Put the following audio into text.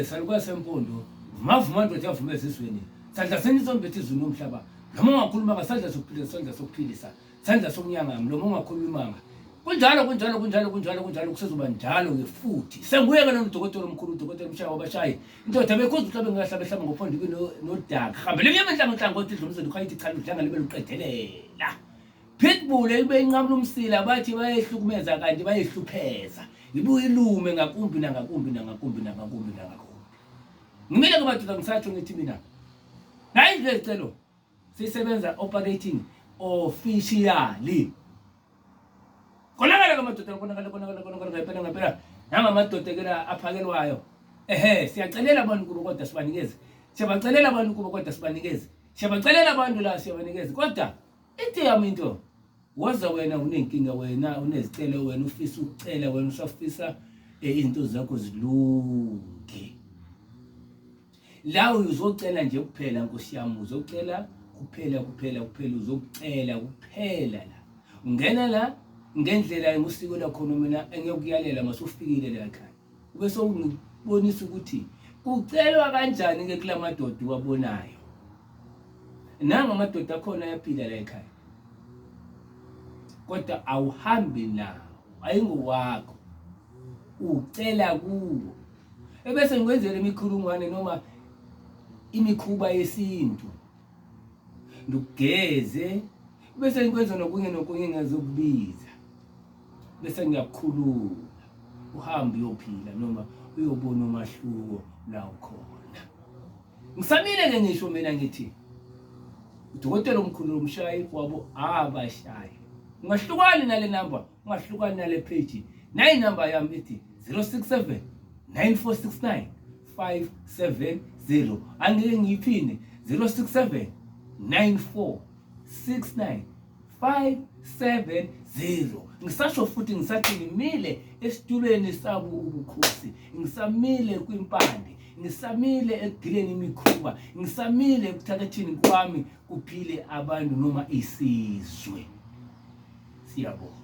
Saluka sempondo mavuma ndoda yavuma ezizweni sandla senisombetha izulu nomhlaba noma ungakhuluma ngasandla sokuphila sandla sokuphilisa sandla sokunyanga mlomo ungakhulumanga kunjalo kunjalo kunjalo kunjalo kunjalo kusezoba njalo ke futhi senguye-ke lona udokotela omkhulu udokotela umshaya wabashayi indoda bekhuza uhlabe ngahlaba ehlaba ngophondo ibe nodaka hambele emnyama enhlangohlangothi idlumizweni ukhayithi chalo udlanga libe luqedelela Pitbull eyibe inqamula umsila bathi bayehlukumeza kanti bayehlupheza ibuye ilume ngakumbi nangakumbi nangakumbi nangakumbi nangakumbi ngimile ke madoda ngisatho ngithi mina nayi nje sicelo sisebenza operating officially konakala ke madoda konakala konakala konakala ngempela ngempela nanga madoda ke la aphakelwayo ehe siyacelela abantu kubo kodwa sibanikeze siyabacelela abantu kubo kodwa sibanikeze siyabacelela abantu la siyabanikeze kodwa Ithi yami into waza wena unenkinga wena unezicelo wena ufisa ukucela wena usafisa eh, izinto zakho zilunge la uzocela nje kuphela nkosi yami uzocela kuphela kuphela kuphela uzokucela kuphela la ungena la ngendlela engusiko lakhona mina engiyokuyalela masufikile la ekhaya Ubesongibonisa ukuthi kucelwa kanjani-ke kula madoda uwabonayo. Nanga amadoda akhona ayaphila la ekhaya, kodwa awuhambi nawo, ayingowakho, ucela kuwo. Ebese ngikwenzela imikhulungwane noma imikhuba yesintu, ndikugeze bese ngikwenza nokunye nokunye engazokubiza bese ngiyakukhulula uhambe uyophila noma uyobona umahluko la ukhona ngisamile ke ngisho mina ngithi udokotela omkhulu lomshayi wabo abashayi ungahlukani nale number ungahlukani nale page nayi number yami ithi 067 9469 570 angeke ngiyiphinde 067 9469 570 ngisasho futhi ngisathi ngimile esitulweni sabu ubukhosi ngisamile kwimpande ngisamile ekugileni imikhuba ngisamile ekuthakathini kwami kuphile abantu noma isizwe siyabonga